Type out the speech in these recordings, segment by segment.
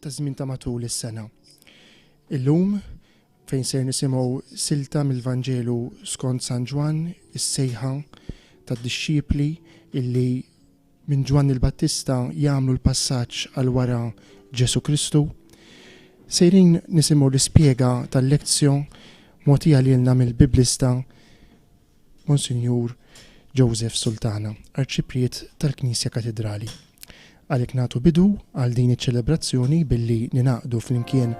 taż-żmien ta' matul is-sena. Illum, fejn ser nisimgħu silta mill-Vanġelu skont San Ġwann, is-sejħa tad-dixxipli illi minn Ġwann il-Battista jagħmlu l-passaġġ għal wara Ġesù Kristu, sejrin nisimgħu l-ispjega tal-lezzjo mogħtija lilna mill-Biblista Monsinjur Joseph Sultana, Arċipriet tal-Knisja Katidrali. Għalhekk nagħtu bidu għal din iċ-ċelebrazzjoni billi ningħaqdu flimkien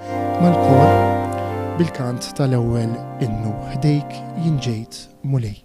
mal-kor bil-kant tal-ewwel innu Ħdejk jien ġejt, Mulej.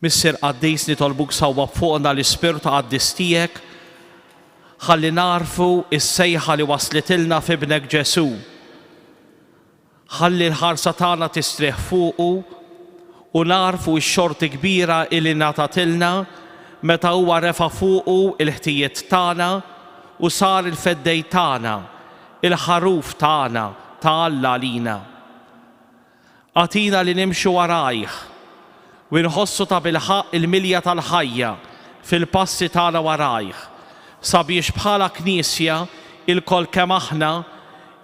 Missier Qaddis nitolbuk sawwab fuqna l-Ispirtu Qaddis tiegħek ħalli nagħrfu s-sejħa li waslitilna f'Ibnek Ġesù. Ħalli l-ħarsa tagħna tistrieħ fuqu u nagħrfu x-xorti kbira li ngħatatilna meta huwa refa' fuqu l-ħtijiet tagħna u sar il-feddej tagħna, il-Ħaruf tagħna ta' Alla għalina. Agħtina li nimxu warajh u nħossu tabilħaqq il-milja tal-ħajja fil-passi tagħna warajh, sabiex bħala Knisja, ilkoll kemm aħna,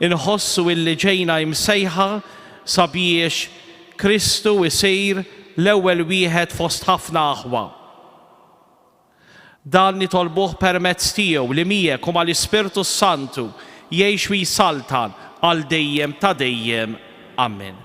inħossu illi ġejna imsejħa sabiex Kristu jsir l-ewwel wieħed fost ħafna aħwa. Dan nitolbuh permezz tiegħu li miegħek u mal-Ispirtu s-Santu jgħix u jsaltan għal dejjem ta' dejjem. Ammen.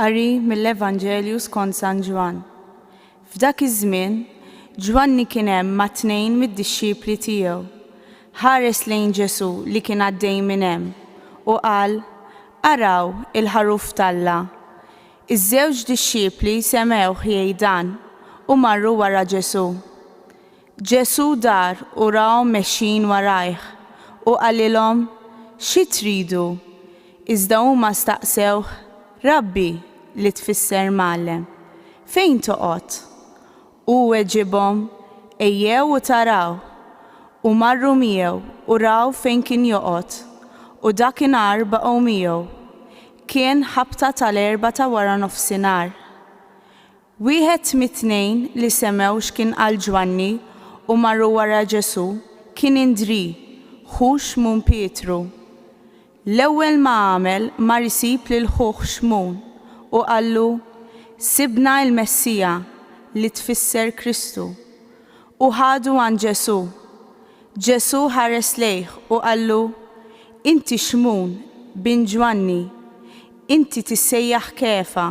Qari mill-Evanġelju skont San Ġwann. F'dak iż-żmien, Ġwanni kien hemm ma' tnejn mid-dixxipli tiegħu. Ħares lejn Ġesù li kien għaddej minn hemm, u qal, Araw, il-Ħaruf t'Alla! Iż-żewġ dixxipli semgħuh jgħid dan u marru wara Ġesù. Ġesù dar u rahom mexjin warajh, u qalilhom, Xi tridu? Iżda huma staqsewh, Rabbi, li tfisser Mgħallem, fejn toqgħod? Hu weġibhom, Ejjew u taraw. U marru miegħu u raw fejn kien joqgħod, u dakinhar baqgħu miegħu. Kien ħabta tal-erbgħa ta' waranofsinhar. Wieħed mit-tnejn li semgħu x'kien qal Ġwanni u marru wara Ġesù kien Indrì, ħu Xmun Pietru. L-ewwel ma għamel mar isib lil ħuh Xmun u qallu, Sibna il-Messija, li tfisser Kristu. U ħadu għand Ġesù. Ġesù ħares lejh u qallu, Inti Xmun, bin Ġwanni. Inti tissejjaħ Kefa,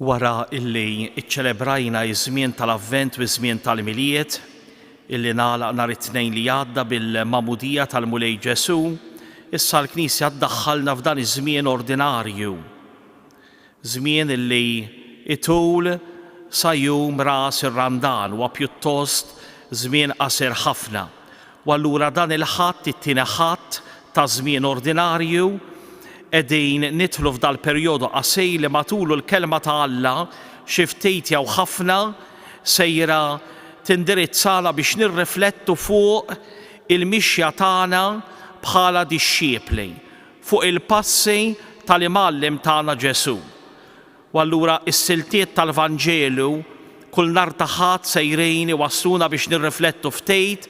wara illi iċċelebrajna iż-żmien tal-Avvent u ż-żmien tal-Miliet, illi nagħlaq nhar it-tnejn li għadda bil-Mamudija tal-Mulej Ġesu, issa l-Knisja ddaħħalna f'dan iż-żmien ordinarju. Żmien li jtul sa jum ras ir-Randan huwa pjuttost żmien qasir ħafna u allura dan il-Ħadd, it-tieni Ħadd ta' żmien ordinarju, qegħdin nidħlu f'dal-perjodu qasir li matulu l-Kelma ta' Alla xi ftit jew ħafna sejra tindirizzana biex nirriflettu fuq il-mixja tagħna bħala dixxiepli fuq il-passi tal-Imgħallem tagħna Ġesù. U allura s-siltiet tal-Vanġelu kull nhar ta' Ħadd sejrin iwassluna biex nirriflettu ftit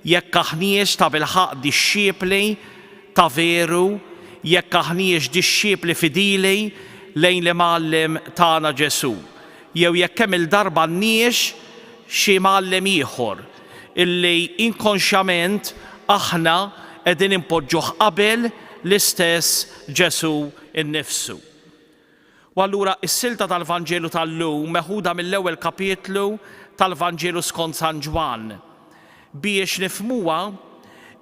jekk aħniex tabilħaqq dixxipli ta' veru, jekk aħniex dixxipli fidili lejn l-Imgħallem tagħna Ġesù, jew jekk kemm-il darba għandniex xi mgħallem ieħor, illi inkonxjament aħna qegħdin inpoġġuh qabel l-istess Ġesù nnifsu. U allura s-silta tal-Vanġelu tal-lum meħuda mill-ewwel kapitlu tal-Vanġelu skont San Ġwann. Biex nifhmuha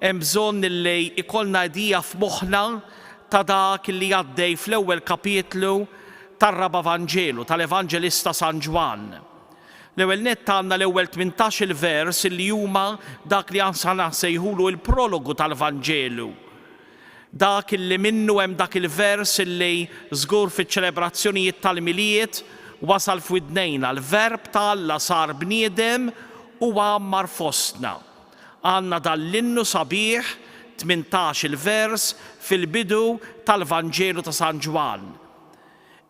hemm bżonn illi ikollna idea f'moħħna ta' dak illi għaddej fl-ewwel kapitlu tar-Raba' Vanġelu tal-Evanġelista San Ġwann. L-ewwel nett għandna l-ewwel tmintax-il vers li huma dak li ahnsa naħsejħulu l-prologu tal-Vanġelu. Dak li minnu hemm dak il-vers li żgur fiċ-ċelebrazzjonijiet tal-Milied wasal f'widnejna, l-Verb ta' Alla sar bniedem u għammar fostna. Għandna dan l-innu sabiħ, tmintax-il vers, fil-bidu tal-Vanġelu ta' San Ġwann.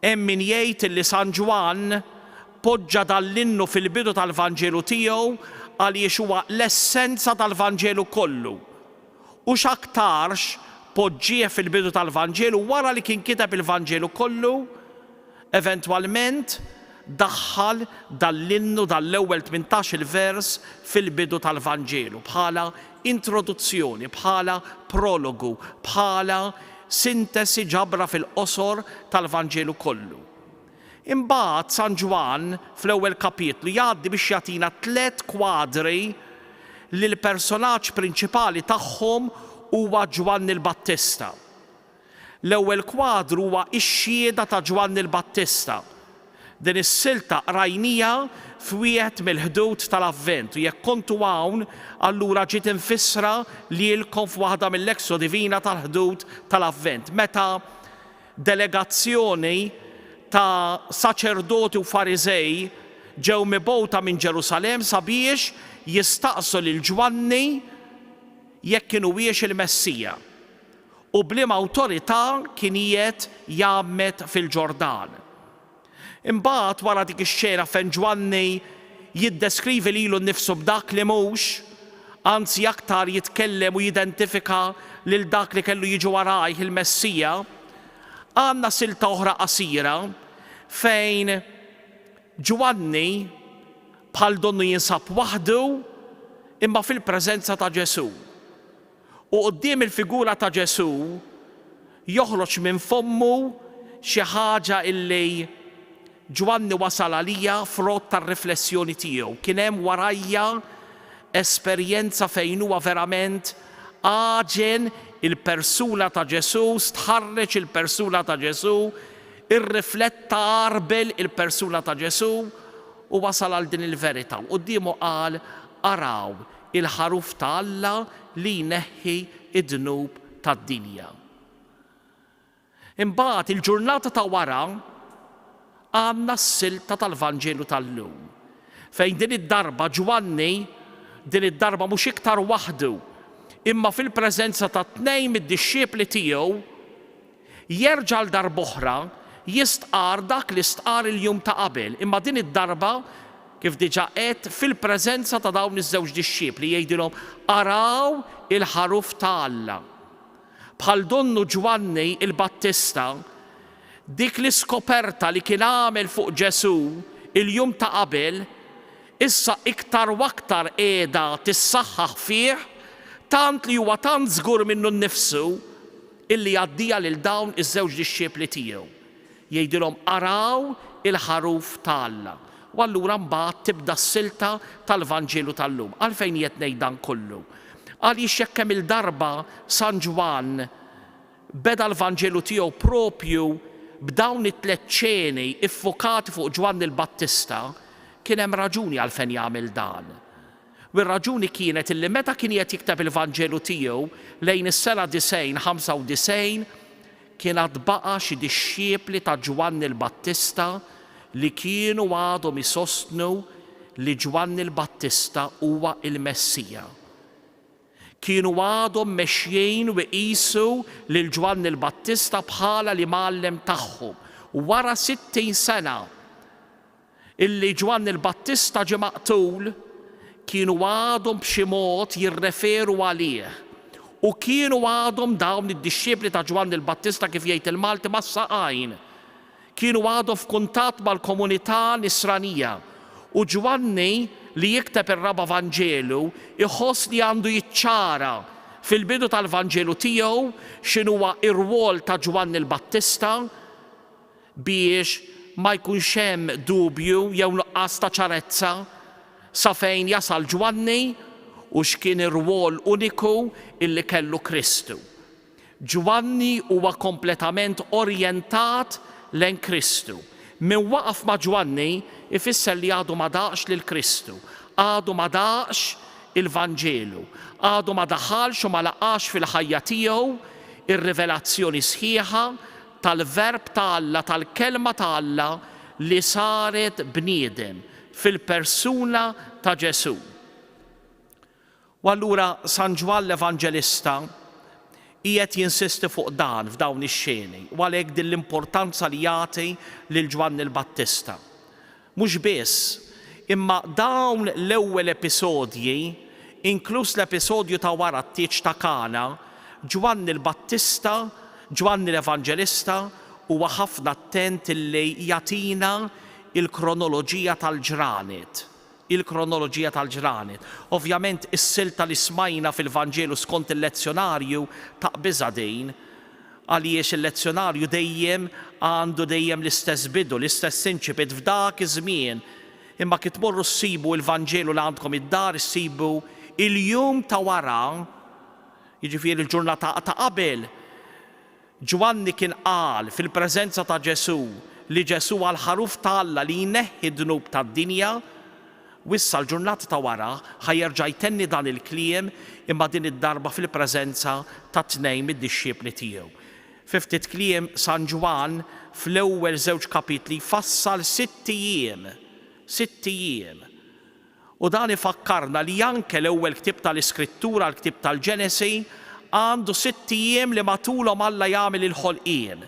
Hemm min jgħid li San Ġwann poġġa dan l-innu fil-bidu tal-Vanġelu tiegħu għaliex huwa l-essenza tal-Vanġelu kollu, u x'aktarx poġġieh fil-bidu tal-Vanġelu wara li kien kiteb il-Vanġelu kollu, eventwalment daħħal dan l-innu, dan l-ewwel tmintax-il vers fil-bidu tal-Vanġelu bħala introduzzjoni, bħala prologu, bħala sintesi, ġabra fil-qosor, tal-Vanġelu kollu. Imbagħad San Ġwann, fl-ewwel kapitlu, jgħaddi biex jagħtina tliet kwadri li l-personaġġ prinċipali tagħhom huwa Ġwanni l-Battista. L-ewwel kwadru huwa x-xhieda ta' Ġwanni l-Battista. Din is-silta qrajnija f'wieħed mill-ħdud tal-Avvent u jekk kontu hawn allura ġiet imfissra lilkom f'waħda mill-Lectio Divina tal-ħdud tal-Avvent meta delegazzjoni ta' saċerdoti u Fariżej ġew mibgħuta minn Ġerusalemm sabiex jistaqsu lil Ġwanni jekk kien huwiex il-Messija. u b'liema awtorità kien qiegħed jgħammed fil-Ġordan. Imbagħad wara dik ix-xena fejn Ġwanni jiddeskrivi lilu nnifsu b'dak li mhux, anzi aktar jitkellem u jidentifika lil dak li kellu jiġi warajh, il-Messija, għandna silta oħra qasira fejn Ġwanni bħal donnu jinsab waħdu imma fil-preżenza ta' Ġesù. U quddiem il-figura ta' Ġesù joħroġ minn fommu xi ħaġa illi Ġwanni wasal għaliha frott tar-riflessjoni tiegħu. Kien hemm warajja esperjenza fejn huwa verament għaġen il-persuna ta' Ġesù, stħarreġ il-persuna ta' Ġesù, irrifletta, għarbel il-persuna ta' Ġesù u wasal għal din il-verità. U quddiemu qal, Araw, Il-Ħaruf ta' Alla li jneħħi d-dnub tad-dinja. Imbagħad, il-ġurnata ta' wara, għandna s-silta tal-Vanġelu tal-lum, fejn din id-darba Ġwanni, din id-darba mhux iktar waħdu, imma fil-preżenza ta' tnejn mid-dixxiepli tiegħu, Jerġa' għal darb'oħra jistqarr dak li stqarr il-jum ta' qabel, imma din id-darba, kif diġà għedt, fil-preżenza ta' dawn iż-żewġ dixxiepli, jgħidilhom, Araw il-Ħaruf ta' Alla! Bħal donnu Ġwanni l-Battista, dik l-iskoperta li kien għamel fuq Ġesù il-jum ta' qabel, issa iktar u aktar qiegħda tissaħħaħ fih, tant li huwa tant żgur minnu nnifsu, Illi jgħaddiha lil dawn iż-żewġ dixxipli tiegħu. Jgħidilhom, Araw il-ħaruf ta' Alla. U allura mbagħad tibda s-silta tal-Vanġelu tal-lum. Għalfejn qiegħed ngħid dan kollu? Għaliex jekk kemm-il darba San Ġwann beda l-Vanġelu tiegħu proprju b'dawn it-tliet ċeni ffukati fuq Ġwanni l-Battista, kien hemm raġuni għalfejn jagħmel dan. u r-raġuni kienet illi meta kien qiegħed jikteb il-Vanġelu tiegħu lejn is-sena 90, 95, kien għad baqa' xi dixxiepli ta' Ġwanni l-Battista li kienu għadhom isostnu li Ġwanni l-Battista huwa l-Messija. Kienu għadhom mexjin u jqisu lil Ġwanni l-Battista bħala l-imgħallem tagħhom. Wara 60 sena, illi Ġwanni l-Battista ġie maqtul kienu għadhom b'xi mod jirreferu għalih u kienu għadhom dawn id-dixxiepli ta' Ġwanni l-Battista kif jgħid il-Malti mas-saqajn. Kienu għadhom f'kuntatt mal-komunità Nisranija u Ġwanni li jikteb ir-Raba' Vanġelu jħoss li għandu jiċċara fil-bidu tal-Vanġelu tiegħu x'inhuwa r-rwol ta' Ġwanni l-Battista biex ma jkunx hemm dubju jew nuqqas ta' ċarezza sa fejn jasal Ġwanni u x'kien ir-rwol uniku li kellu Kristu. Ġwanni huwa kompletament orjentat lejn Kristu. Min waqaf ma' Ġwanni jfisser li għadu ma daqx lil Kristu, għadu ma daqx il-Vanġelu, għadu ma daħalx u ma laqax fil-ħajja tiegħu r-rivelazzjoni sħiħa tal-Verb ta' Alla, tal-Kelma ta' Alla li saret bniedem, fil-persuna ta' Ġesù. U allura San Ġwann l-Evanġelista qiegħed jinsisti fuq dan f'dawn ix-xeni, u għalhekk din l-importanza li jagħti lil Ġwanni l-Battista. Mhux biss, imma dawn l-ewwel episodji, inkluż l-episodju ta' wara t-tieġ ta' Kana, Ġwanni l-Battista, Ġwanni l-Evanġelista, huwa ħafna attent illi jagħtina l-kronoloġija tal-ġranet. Il-kronoloġija tal-ġranet. Ovvjament is-silta li smajna fil-Vanġelu skont il-Lezzjonarju taqbiżha din. Għaliex il-lezzjonarju dejjem għandu dejjem l-istess bidu, l-istess incipit f'dak iż-żmien? Imma kif tmorru ssibu il-Vanġelu li għandkom id-dar, issibu il-jum ta' wara, jiġifieri il-ġurnata ta' qabel. Ġwanni kien qal fil-preżenza ta' Ġesù li Ġesù huwa l-Ħaruf ta' Alla li jneħħi d-dnub tad-dinja. Wissa l-ġurnata ta' wara ħa jerġa' jtenni dan il-kliem imma din id-darba fil-preżenza ta' tnejn mid-dixxiepli tiegħu. Fi ftit kliem San Ġwann fl-ewwel żewġ kapitli jfassal sitt ijiem, sitt ijiem. U dan ifakkarna li anke l-ewwel ktieb tal-Iskrittura, l-ktieb tal-Ġenesi, għandu sitt ijiem li matulhom Alla jagħmel il-ħolqien.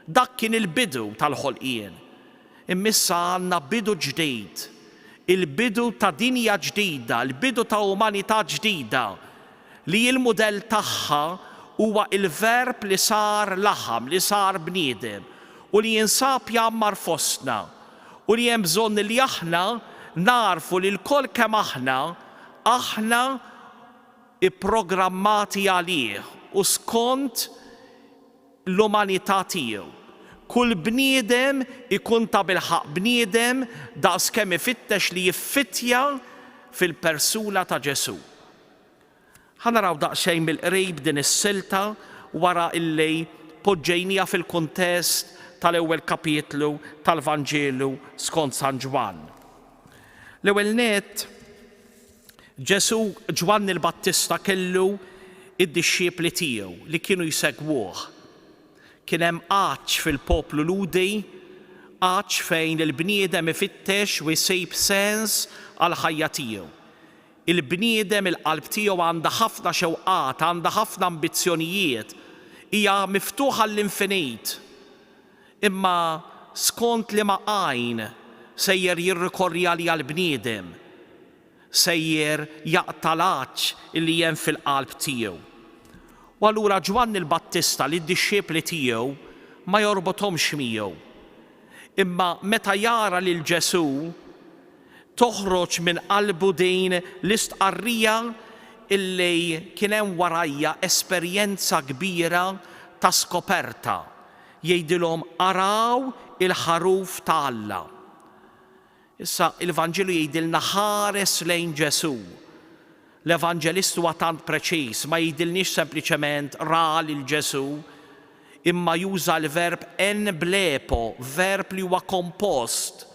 Dak kien il-bidu tal-ħolqien. Imma issa għandna bidu ġdid, il-bidu ta' dinja ġdida, il-bidu ta' umanità ġdida, li l-mudell tagħha huwa l-Verb li sar laħam, li sar bniedem, u li jinsab jgħammar fostna, u li hemm bżonn li aħna nagħrfu li lkoll kemm aħna, aħna pprogrammati għalih u skont l-umanità tiegħu. Kull bniedem ikun tabilħaqq bniedem daqskemm ifittex li jiffittja fil-persuna ta' Ġesù. Ħa naraw daqsxejn mill-qrib din is-silta wara li poġġejniha fil-kuntest tal-ewwel kapitlu tal-Vanġelu skont San Ġwann. L-ewwel nett, Ġesù, Ġwanni l-Battista kellu d-dixxiepli tiegħu li kienu jsegwuh. Kien hemm għatx fil-poplu Lhudi, għatx fejn il-bniedem ifittex u jsib sens għall-ħajja tiegħu. Il-bniedem, il-qalb tiegħu għandha ħafna xewqat, għandha ħafna ambizzjonijiet, hija miftuħa għall-infinit. Imma skont liema għajn sejjer jirrikorri għaliha l-bniedem? Sejjer jaqta' l-għatx li hemm fil-qalb tiegħu. U allura Ġwanni l-Battista lid-dixxipli tiegħu ma jorbothomx miegħu. Imma meta jara lil Ġesù, toħroġ minn qalbu din l-istqarrija li kien hemm warajha esperjenza kbira ta' skoperta, jgħidilhom araw il-ħaruf ta' Alla. Issa il-Vanġelu jgħidilna ħares lejn Ġesù. L-Evanġelist huwa tant preċiż, ma jgħidilniex sempliċement ra lil Ġesù, imma juża l-verb en blepo, verb li huwa kompost,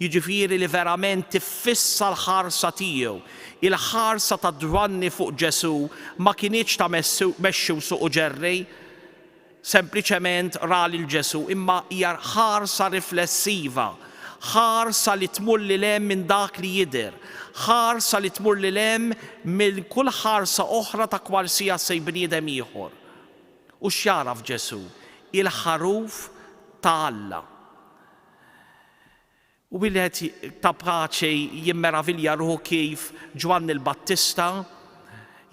jiġifieri li verament tiffissa l-ħarsa tiegħu. Il-ħarsa ta' Ġwanni fuq Ġesù ma kinitx ta' mexxi u suq u ġerri, sempliċement ra lil Ġesù, imma hija ħarsa riflessiva, ħarsa li tmur lil hemm minn dak li jidher, ħarsa li tmur lil hemm minn kull ħarsa oħra ta' kwarsiasi bniedem ieħor. U x'jagħraf Ġesù? Il-Ħaruf ta' Alla. Wieħed ta' paċi jimmeravilja ruħu kif Ġwanni l-Battista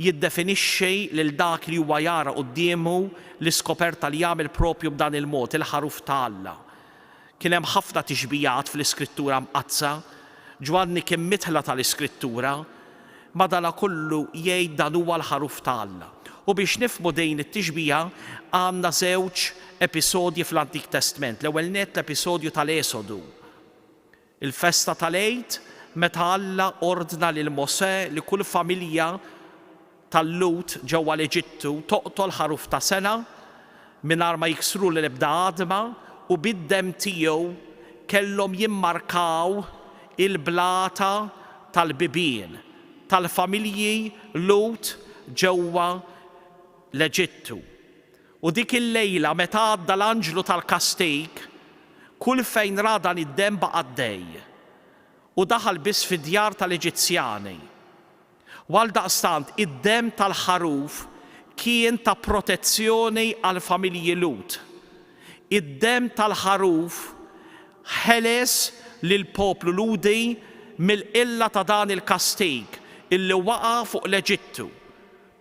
jiddefinixxi lil dak li huwa jara quddiemu, l-iskoperta li jagħmel proprju b'dan il-mod, il-ħaruf ta' Alla. Kien hemm ħafna tixbihat fl-Iskrittura Mqaddsa. Ġwanni kien midħla tal-Iskrittura. Madanakollu jgħid dan huwa l-ħaruf ta' Alla. U biex nifhmu din it-tixbiha għandna żewġ episodji fl-Antik Testment. L-ewwel nett l-episodju tal-Esodu, il-festa tal-Għid meta Alla ordna lil Mosè li kull familja tal-Lhud ġewwa l-Eġittu toqtol ħaruf ta' sena mingħajr ma jiksru l-ebda għadma u bid-demm tiegħu kellhom jimmarkaw il-blata tal-bibien tal-familji Lhud ġewwa l-Eġittu. U dik il-lejla meta għadda l-anġlu tal-kastig, kull fejn ra dan id-demm baqa' għaddej u daħal biss fid-djar tal-Eġizzjani. U għaldaqstant id-demm tal-Ħaruf kien ta' protezzjoni għall-familji Lhud. Id-demm tal-Ħaruf ħeles lill-poplu Lhudi mill-qilla ta' dan il-kastig li waqa' fuq l-Eġittu,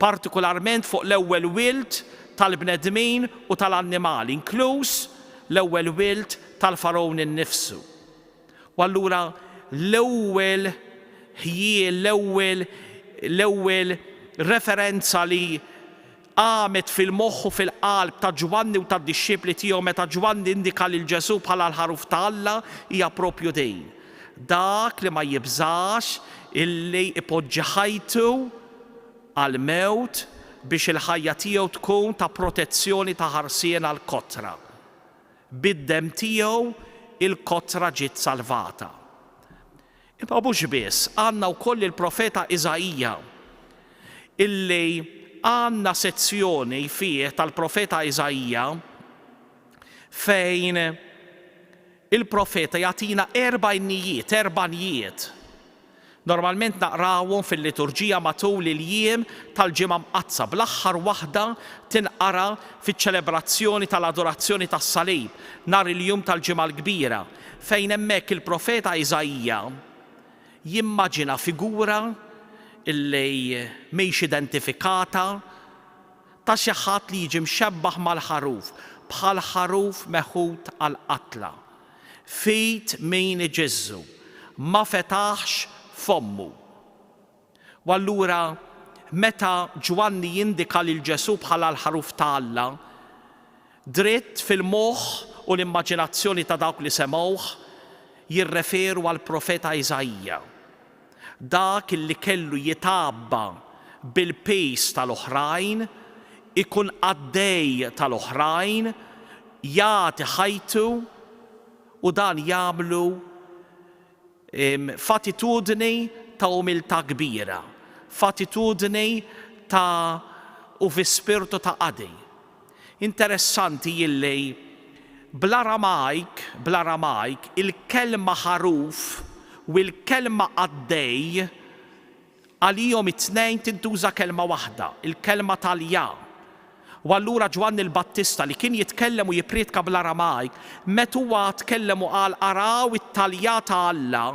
partikularment fuq l-ewwel wild tal-bnedmin u tal-annimali, inkluż l-ewwel wild tal-Fargħun innifsu. U allura l-ewwel ħjiel, l-ewwel l-ewwel referenza li qamet fil-moħħ u fil-qalb ta' Ġwanni u tad-dixxipli tiegħu meta Ġwanni indika lil Ġesù bħala l-Ħaruf ta' Alla hija proprju din, dak li ma jibżax illi jpoġġi ħajtu għall-mewt biex il-ħajja tiegħu tkun ta' protezzjoni, ta' ħarsien għall-kotra. Bid-demm tiegħu l-kotra ġiet salvata. Imma mhux biss, għandna wkoll il-profeta Iżaija, illi għandna sezzjoni fih tal-profeta Iżaija fejn il-profeta jagħtina erba' innijiet, erba' njiet. Normalment naqrawhom fil-liturġija matul il-jiem tal-Ġimgħa Mqaddsa, bl-aħħar waħda tinqara fiċ-ċelebrazzjoni tal-Adorazzjoni tas-Salib, nhar il-jum tal-Ġimgħa l-Kbira, fejn hemmhekk il-profeta Iżaija jimmaġina figura li mhix identifikata ta' xi ħadd li jiġi mxebbaħ mal-ħaruf, bħal ħaruf meħud għall-qatla. Fid min iġiżżu, ma fetaħx fommu. U allura meta Ġwanni jindika lil Ġesù bħala l-Ħaruf ta' Alla, dritt fil-moħħ u l-immaġinazzjoni ta' dawk li semgħuh jirreferu għall-profeta Iżaija. Dak li kellu jitgħabba bil-piż tal-oħrajn, ikun qaddej tal-oħrajn, jagħti ħajtu, u dan jagħmlu f'attitudni ta' umiltà kbira, f'attitudni ta' u fi spirtu ta' qadi. Interessanti illi bl-Aramajk, bl-Aramajk, il-kelma ħaruf u l-kelma qaddej, għalihom it-tnejn tintuża kelma waħda, il-kelma talja. U allura Ġwanni l-Battista, li kien jitkellem u jipprietka bl-Aramajk, met huwa tkellem u qal araw it-talja ta' Alla,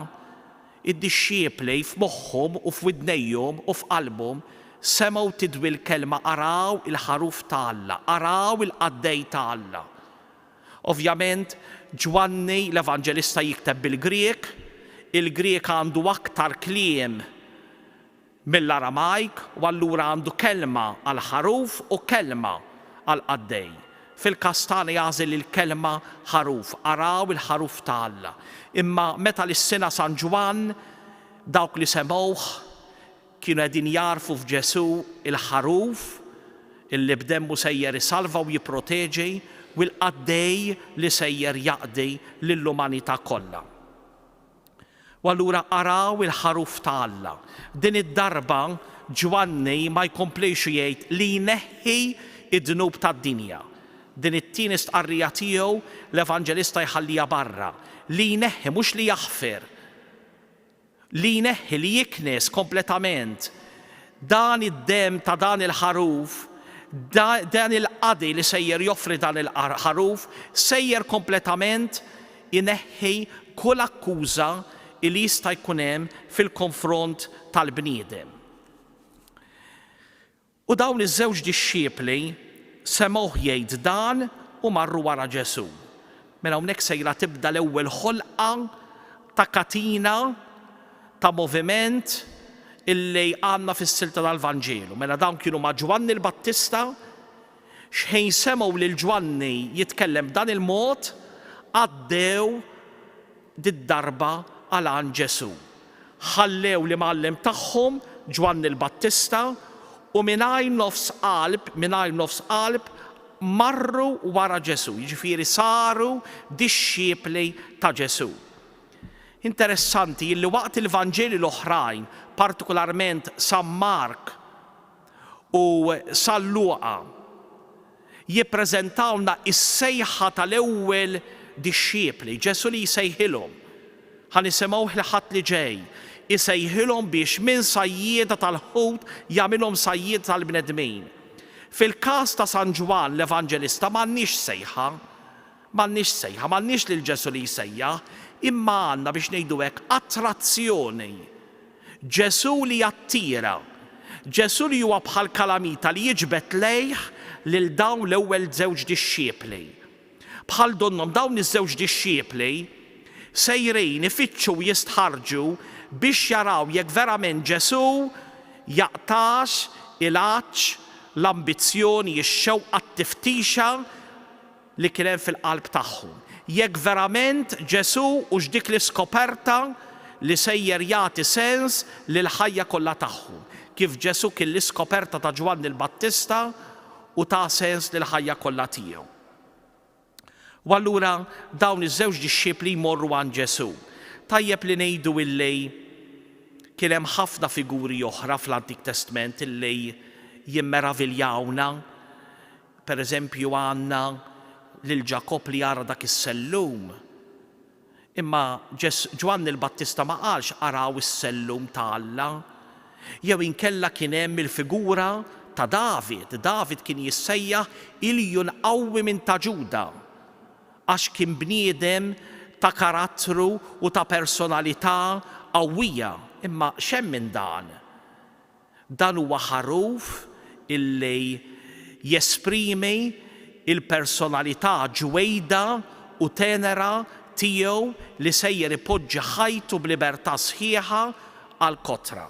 Id-dixxiepli f'moħħhom u f'widnejhom u f'qalbhom semgħu tidwi l-kelma araw il-Ħaruf ta' Alla, araw il-Qaddej ta' Alla. Ovvjament, Ġwanni l-Evanġelista jikteb bil-Grieg, il-Grieg għandu aktar kliem mill-Aramajk u allura għandu kelma għall-ħaruf u kelma għall-qaddej. Fil-każ tagħna jagħżel il-kelma ħaruf, araw il-ħaruf ta' Alla. Imma meta lissina San Ġwann, dawk li semgħuh, kienu qegħdin jagħrfu f'Ġesù l-ħaruf, illi b'demmu sejjer isalva u jipproteġi, u l-qaddej li sejjer jaqdi lill-umanità kollha. U allura araw il-Ħaruf ta' Alla. Din id-darba Ġwanni ma jkomplix jgħid li jneħħi d-dnub tad-dinja. Din it-tieni stqarrija tiegħu l-Evanġelista jħalliha barra. Li jneħħi, mhux li jaħfir. Li jneħħi, li jiknes kompletament. Dan id-demm ta' dan il-Ħaruf, dan il-qadi li sejjer joffri dan il-Ħaruf, sejjer kompletament ineħħi kull akkuża li jista' jkun hemm fil-konfront tal-bniedem. U dawn iż-żewġ dixxiepli semgħuh jgħid dan u marru wara Ġesù. Mela hawnhekk sejra tibda l-ewwel ħolqa ta' katina ta' moviment illi għandna fis-silta tal-Vanġelu. Mela dawn kienu ma' Ġwanni l-Battista X'ħin semgħu lil Ġwanni jitkellem b'dan il-mod, għaddew did-darba għal għand Ġesù. Ħallew l-imgħallem tagħhom, Ġwanni l-Battista, u mingħajr nofs qalb, mingħajr nofs qalb, marru wara Ġesù, jiġifieri saru dixxipli ta' Ġesù. Interessanti illi waqt il-Vanġeli l-oħrajn, partikularment San Mark, u San Luqa jippreżentawlna s-sejħa tal-ewwel dixxiepli, Ġesù li jsejħilhom, ħa nisimgħuh l-Ħadd li ġej, isejħilhom biex minn sajjieda tal-ħut jagħmilhom sajjieda tal-bnedmin. Fil-każ ta' San Ġwann l-Evanġelista m'għandniex sejħa, m'għandniex sejħa, m'għandniex lil Ġesù li jsejjaħ, imma għandna, biex ngħidu hekk, attrazzjoni. Ġesù li jattira. Ġesù li huwa bħal kalamita li jiġbed lejh lil dawn l-ewwel żewġ dixxiepli. Bħal donnhom dawn iż-żewġ dixxiepli sejrin ifittxu u jistħarrġu biex jaraw jekk verament Ġesù jaqtax il-għatx, l-ambizzjoni, ix-xewqa, t-tiftixa, li kien hemm fil-qalb tagħhom, jekk verament Ġesù hux dik l-iskoperta li sejjer jagħti sens lill-ħajja kollha tagħhom, kif Ġesù kien l-iskoperta ta' Ġwanni l-Battista u ta sens lill-ħajja kollha tiegħu. U allura dawn iż-żewġ dixxipli jmorru għand Ġesù. Tajjeb li ngħidu illi kien hemm ħafna figuri oħra fl-Antik Testment illi jimmeraviljawna Per eżempju għandna lil Ġakobb li ara dak is-sellum. Imma Ġwanni l-Battista ma qalx araw is-sellum ta' Alla. Jew inkella kien hemm il-figura ta' David. David kien jissejjaħ Ilju l-Qawwi minn ta' Ġuda għax kien bniedem ta' karattru u ta' personalità qawwija. Imma x'hemm minn dan? Dan huwa ħaruf illi jesprimi l-personalità ġwejda u tenera tiegħu li sejjer ipoġġi ħajtu b'libertà sħiħa għall-kotra.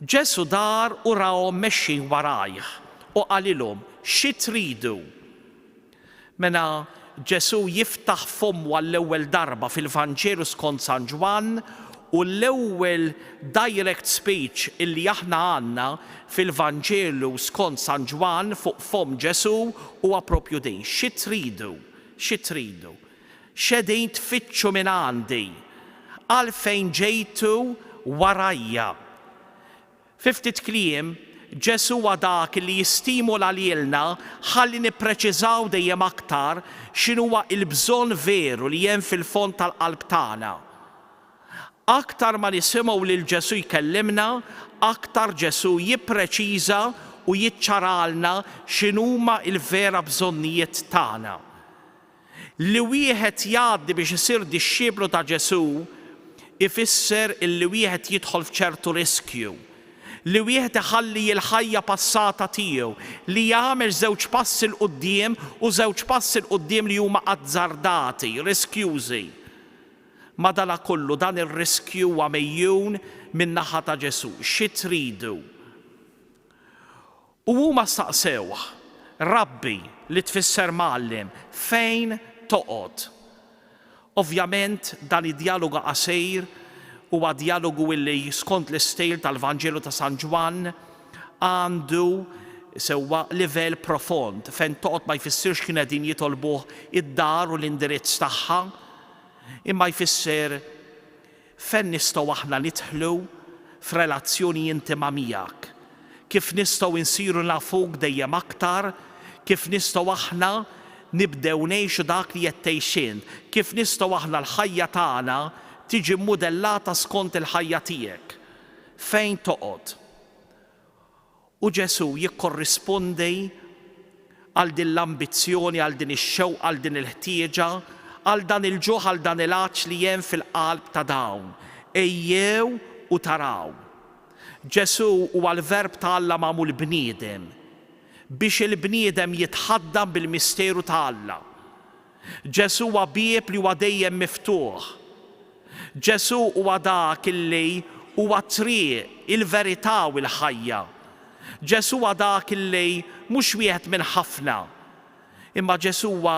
Ġesù dar u rahom mexjin warajh u qalilhom, Xi tridu? Meta Ġesù jiftaħ fommu għall-ewwel darba fil-Vanġelu skont San Ġwann, u l-ewwel direct speech illi aħna għandna fil-Vanġelu skont San Ġwann fuq fomm Ġesù huwa proprju din, Xi tridu? Xi tridu? X'qegħdin tfittxu minn għandi? Għalfejn ġejtu warajja? Fi ftit kliem, Ġesù huwa dak li jistimula lilna ħalli nippreċiżaw dejjem aktar x'inhuwa l-bżonn veru li hemm fil-fond tal-qalb tagħna. Aktar ma nisimgħu lil Ġesù jkellimna, aktar Ġesù jippreċiża u jiċċaralna x'inhuma l-vera bżonnijiet tagħna. Li wieħed jgħaddi biex isir dixxiplu ta' Ġesù ifisser li wieħed jidħol f'ċertu riskju, li wieħed iħalli l-ħajja passata tiegħu, li jagħmel żewġ passi 'l quddiem u żewġ passi 'l quddiem li huma azzardati, riskjużi. Madanakollu dan ir-riskju huwa megħjun min-naħa ta' Ġesù. Xi tridu? U huma staqsewh, Rabbi, li tfisser Mgħallem, fejn toqgħod? Ovvjament, dan id-djalogu qasir huwa djalogu li, skont l-istil tal-Vanġelu ta' San Ġwann, għandu sewwa livell profond. Fejn toqgħod ma jfissirx kienu qegħdin jitolbuh id-dar u l-indirizz tagħha, imma jfisser Fejn nistgħu aħna nidħlu f'relazzjoni intima miegħek? Kif nistgħu nsiru nafuk dejjem aktar? Kif nistgħu aħna nibdew ngħixu dak li qed tgħix int? Kif nistgħu aħna l-ħajja tagħna tiġi mmudellata skont il-ħajja tiegħek? Fejn toqgħod? U Ġesù jikkorrispondi għal din l-ambizzjoni, għal din ix-xewqa, għal din il-ħtieġa, għal dan il-ġuħ, għal dan il-għatx li hemm fil-qalb ta' dawn, Ejjew u taraw. Ġesù huwa l-Verb ta' Alla magħmul bniedem, biex il-bniedem jitħaddan bil-misteru ta' Alla. Ġesù huwa bieb li huwa dejjem miftuħ. Ġesù huwa dak li huwa t-triq, il-verità u il-ħajja. Ġesù huwa dak li mhux wieħed minn ħafna. Imma Ġesù huwa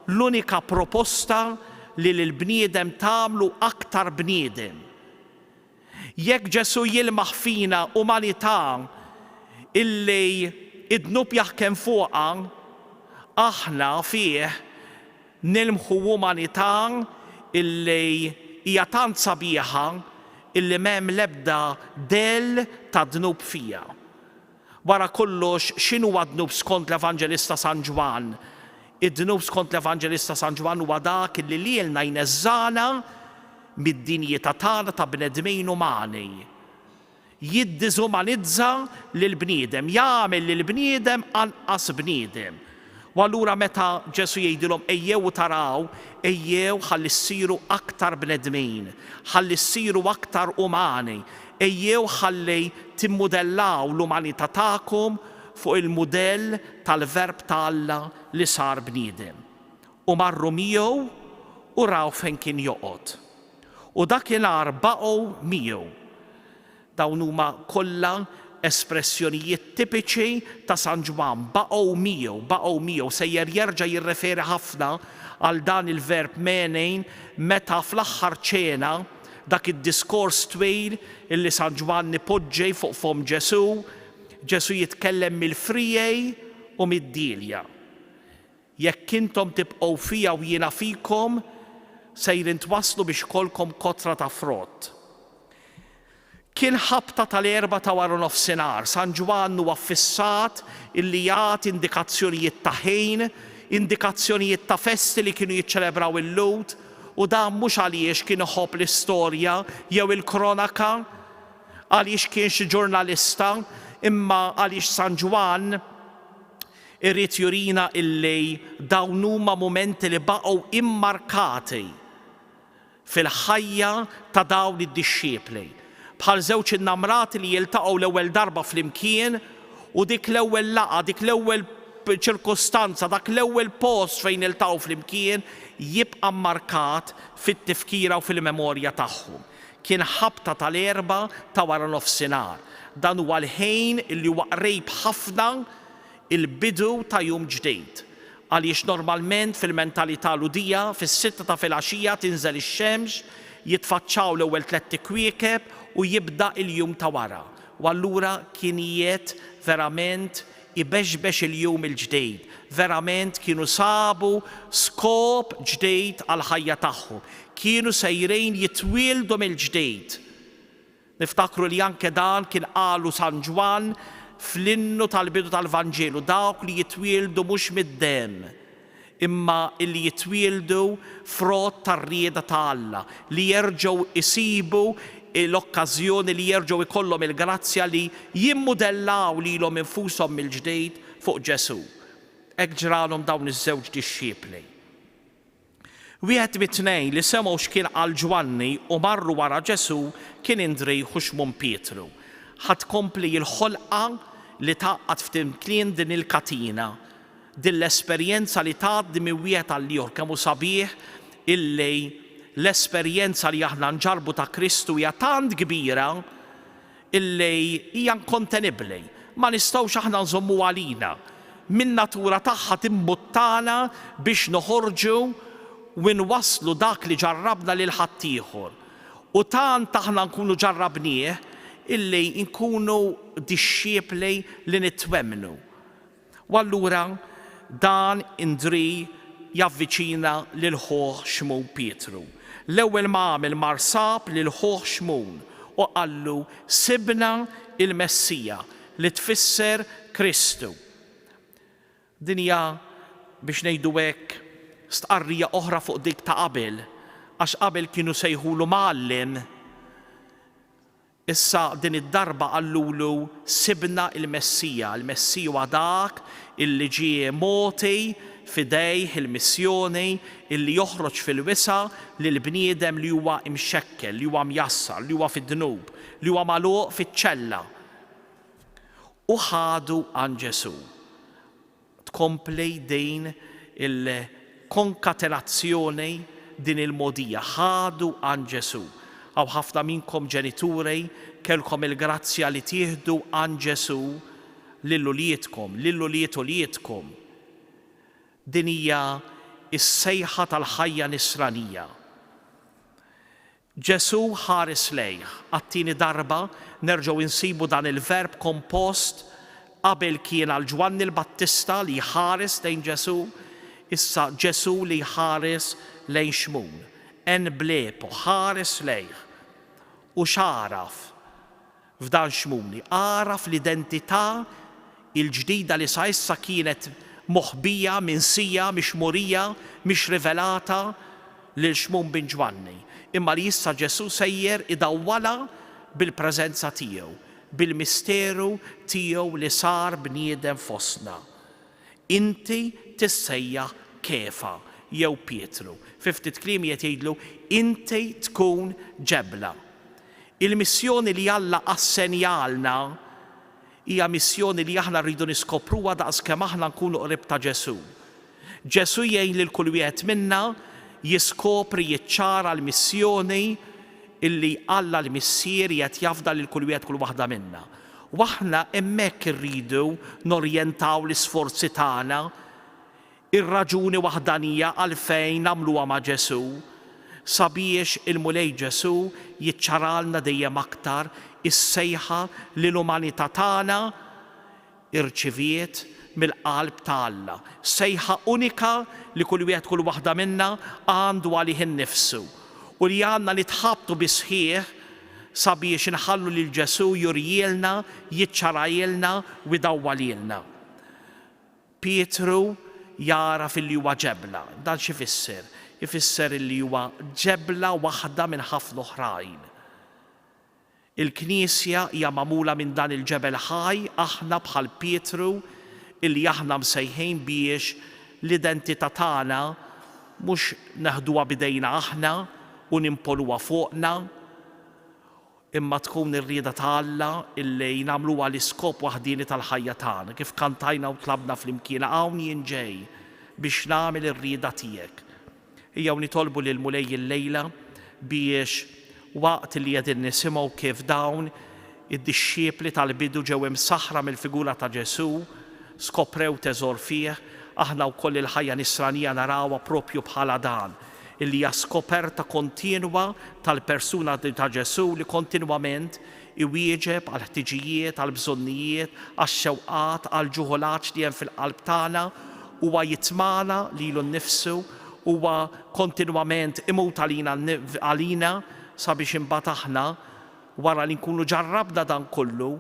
l-unika proposta li lill-bniedem tagħmlu aktar bniedem. Jekk Ġesù jilmaħ fina umanità illi d-dnub jaħkem fuqha, aħna fih nilmħu umanità illi hija tant sabiħa illi m'hemm l-ebda dell tad-dnub fiha. Wara kollox, x'inhuwa d-dnub skont l-Evanġelista San Ġwann? Id-dnub skont l-Evanġelista San Ġwann huwa dak li lilna jneżżagħna mid-dinjità tagħna ta' bnedmin umani. Jiddiżumanizza lill-bniedem, jagħmel lill-bniedem anqas bniedem. U allura meta Ġesù jgħidilhom ejjew u taraw, ejjew ħalli ssiru aktar bnedmin, ħalli ssiru aktar umani, ejjew ħalli timmudellaw l-umanità tagħkom fuq il-mudell tal-Verb ta' Alla li sar bniedem. U marru miegħu u raw fejn kien joqgħod. U dakinhar baqgħu miegħu. Dawn huma kollha espressjonijiet tipiċi ta' San Ġwann, baqgħu miegħu, baqgħu miegħu, sejjer jerġa' jirreferi ħafna għal dan il-verb mene meta fl-aħħar ċena, dak id-diskors twil illi San Ġwann ipoġġi fuq fomm Ġesù, Ġesù jitkellem mill-friegħi u mid-dielja. Jekk intom tibqgħu fija u jiena fikom, sejrin twasslu biex ikollkom kotra ta' frott. Kien ħabta tal-Erbgħa ta' waranofsinhar. San Ġwann huwa ffissat illi jagħti indikazzjonijiet ta' ħin, indikazzjonijiet ta' festi li kienu jiċċelebraw il-Lhud, u dan mhux għaliex kien iħobb l-istorja jew il-kronaka, għaliex kien xi ġurnalista, imma għaliex San Ġwann, Irid jurina illi dawn huma mumenti li baqgħu immarkati fil-ħajja ta' dawn id-dixxipli, bħal żewġ innamrati li jiltaqgħu l-ewwel darba flimkien u dik l-ewwel laqgħa, dik l-ewwel ċirkustanza, dak l-ewwel post fejn iltaqgħu flimkien jibqa' mmarkat fit-tifkira u fil-memorja tagħhom. Kien ħabta tal-Erbgħa ta' waranofsinhar. Dan huwa l-ħin li huwa qrib ħafna il-bidu ta' jum ġdid, għaliex normalment fil-mentalità Lhudija fis-sitta ta' filgħaxija tinżel ix-xemx, jitfaċċaw l-ewwel tlett ikwiekeb u jibda il-jum ta' wara. U allura kien jiet verament ibexbex il-jum il-ġdid, verament kienu sabu skop ġdid għall-ħajja tagħhom, kienu sejrin jitwieldu mill-ġdid. Niftakru li anke dan kien qalu San Ġwann fl-innu tal-bidu tal-Vanġelu, dawk li jitwieldu mhux mid-demm, imma li jitwieldu frott tar-rieda ta' Alla, li jerġgħu jsibu l-okkażjoni li jerġgħu jkollhom il-grazzja li jimmudellaw lilhom infushom mill-ġdid fuq Ġesù. Hekk ġralhom dawn iż-żewġ dixxipli. Wieħed mit-tnejn li semgħu x'kien qal Ġwanni u marru wara Ġesù kien Indriju Xmun Pietru. Ħa tkompli l-ħolqa li tgħaqqad f'timkien din il-katina. Din l-esperjenza li tgħaddi minn wieħed għall-ieħor kemm hu sabiħ illi l-esperjenza li aħna nġarrbu ta' Kristu hija tant kbira illi hija inkontenibbli. Ma nistgħux aħna nżommuha għalina. Min-natura tagħha timbuttana biex noħorġu u nwasslu dak li ġarrabna lil ħaddieħor. U tant aħna nkunu ġarrabnieh illi nkunu dixxiepli li nitwemmnu. U allura dan indri javviċina lil ħuh Xmun Pietru. L-ewwel ma għamel mar sab lil ħuh Xmun u qallu sibna l-Messija, li tfisser Kristu. Din hija biex ngħidu hekk stqarrija oħra fuq dik ta' qabel, għax qabel kienu sejħulu mgħallem, Issa din id-darba qalulu, Sibna l-Messija. Il-Messija huwa dak illi ġie mogħti f'idejh il-missjoni illi joħroġ fil-wisa' lil bniedem li huwa mxekkel, li huwa mjassar, li huwa fid-dnub, li huwa magħluq fiċ-ċella. U ħadu għand Ġesù. tkompli din il-konkatenazzjoni, din il-mogħdija, ħadu għan Ġesù. Hawn ħafna minnkom ġenituri kellkom il-grazzja li tieħdu għan Ġesù lil uliedkom, lil ulied uliedkom. Din hija s-sejħa tal-ħajja Nisranija. Ġesù ħares lejh. Għat-tieni darba nerġgħu insibu dan il-verb kompost, qabel kien għal Ġwanni l-Battista li jħares lejn Ġesù, issa Ġesù li jħares lejn Xmun. En blepo, ħares lejh. U x'għaraf? F'dan Xmuni għaraf l-identità l-ġdida li sa issa kienet moħbija, minsija, mhix murija, mhix rivelata lil Xmun bin Ġwanni, imma li issa Ġesù sejjer idawwalha bil-preżenza tiegħu, bil-misteru tiegħu li sar bniedem fostna. Inti tissejjaħ Kefa, jew Pietru. Fi ftit kliem qiegħed jgħidlu, Inti tkun ġebla. Il-missjoni li Alla assenjalna hija missjoni li aħna rridu niskopruha daqs kemm aħna nkunu qrib ta' Ġesù. Ġesù jgħin lil kull wieħed minna jiskopri, jiċċara l-missjoni li Alla l-Missier qiegħed jafda lil kull wieħed kull waħda minna. U aħna hemmhekk irridu norjentaw l-isforzi tagħna, ir-raġuni waħdanija għalfejn nagħmluha ma' Ġesù, sabiex il-Mulej Ġesù jiċċaralna dejjem aktar is-sejħa li l-umanità tagħna rċiviet mill-qalb ta' Alla, sejħa unika li kull wieħed kull waħda minna għandu għalih innifsu u li għandna nitħabtu bis-sħiħ sabiex inħallu lil Ġesù jurielna, jiċċarailna u jdawwalilna. Pietru jagħraf illi huwa ġebla. Dan xi jfisser? Ifisser illi huwa ġebla waħda minn ħafna oħrajn. Il-Knisja hija magħmula minn dan il-ġebel ħaj, aħna bħal Pietru illi aħna msejħin biex l-identità tagħna mhux neħduha b'idejna aħna u nimponuha fuqna, imma tkun ir-rieda ta' Alla illi nagħmluha l-iskop waħdieni tal-ħajja tagħna, kif kantajna u tlabna flimkien, Hawn jien ġej biex nagħmel ir-rieda tiegħek. Ejjew nitolbu lill-Mulej illejla biex waqt li qegħdin nisimgħu kif dawn Id-dixxiepli tal-bidu ġew imsaħħra mill-figura ta' Ġesù, skoprew teżor fih, aħna wkoll il-ħajja nisranija narawha proprju bħala dan, li hija skoperta kontinwa tal-persuna ta' Ġesù li kontinwament iwieġeb għall-ħtiġijiet, għall-bżonnijiet, għax-xewqat, għall-ġuħ u l-għatx li hemm fil-qalb tagħna, huwa jitmagħna lilu nnifsu, huwa kontinwament imut għalina sabiex imbagħad aħna Wara li nkunu ġarrabna dan kollu,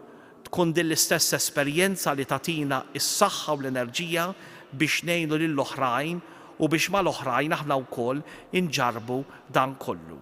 tkun din l-istess esperjenza li tagħtina s-saħħa u l-enerġija biex ngħinu lil oħrajn u biex mal-oħrajn aħna wkoll inġarrbu dan kollu.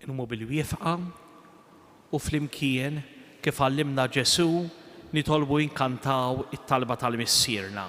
Inqumu bil-wiefqa u flimkien, kif għallimna Ġesù, nitolbu inkantaw it-talba tal-Missierna.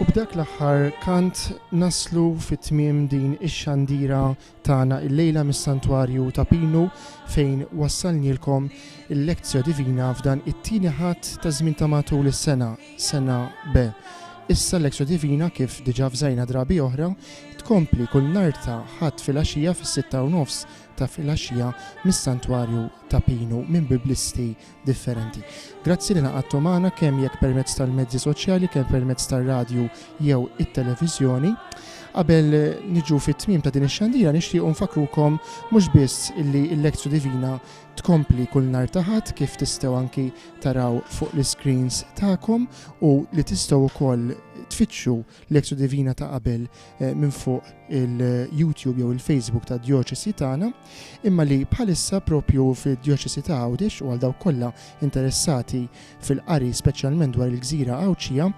U b'dak l-aħħar kant naslu fi tmiem din ix-xandira tagħna illejla mis-Santwarju ta' Pinu fejn wassalnielkom il-Lectio Divina f'dan it-Tieni Ħadd taż-żmien ta' matul is-sena, Sena B. Issa l-Lectio Divina, kif diġà fżajna drabi oħra, tkompli kull nhar ta' Ħadd filgħaxija fis-sitta u nofs ta' filgħaxija mis-Santwarju ta' Pinu minn Biblisti differenti. Grazzi li ingħaqadtu magħna kemm jekk permezz tal-mezzi soċjali kemm permezz tar-radju jew it-televiżjoni. Qabel niġu fit-tmiem ta' din ix-xandira nixtiequ nfakkrukom mhux biss illi l-Lectio Divina tkompli kull nhar ta' Ħadd kif tistgħu anki taraw fuq l-iscreens tagħkom u li tistgħu wkoll tfittxu l-Extra Divina ta' qabel eh, minn fuq il-YouTube jew il-Facebook ta' Djoċesi tagħna, imma li bħalissa propju fid-Djoċesi ta' Għawdex u għal dawk kollha interessati fil-qari speċjalment dwar il-gżira Għawdxija,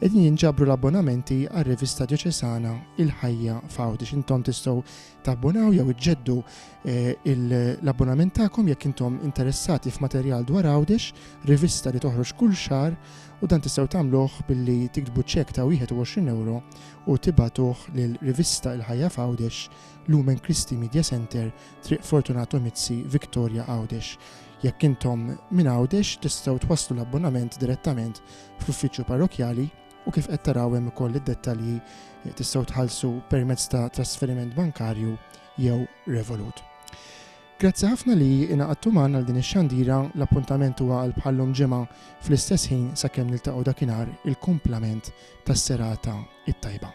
qegħdin jinġabru l-abbonamenti għar-rivista Djoċesana Il-Ħajja f'Għawdex. Intom tistgħu tabbonaw jew iġġeddu eh, l-abbonament tagħkom jekk intom interessati f'materjal dwar Għawdex, rivista li toħroġ kull xar u dan tistgħu tagħmluh billi tiktbu ċekk ta' 21 ewro u tibagħtuh lil Rivista Il-Ħajja f'Għawdex, Lumen Christi Media Centre, Triq Fortunato Mizzi, Victoria Għawdex. Jekk intom minn Għawdex tistgħu twasslu l-abbonament direttament fl-uffiċċju parrokjali u kif qed taraw hemm ukoll id-dettalji eh, tistgħu tħallsu permezz ta' trasferiment bankarju jew Revolut. Grazzi ħafna li ingħaqadtu magħna għal din ix-xandira, l-appuntament huwa għal bħal-lum Ġimgħa fl-istess ħin sakemm niltaqgħu dakinhar il-kumplament tas-serata t-tajba.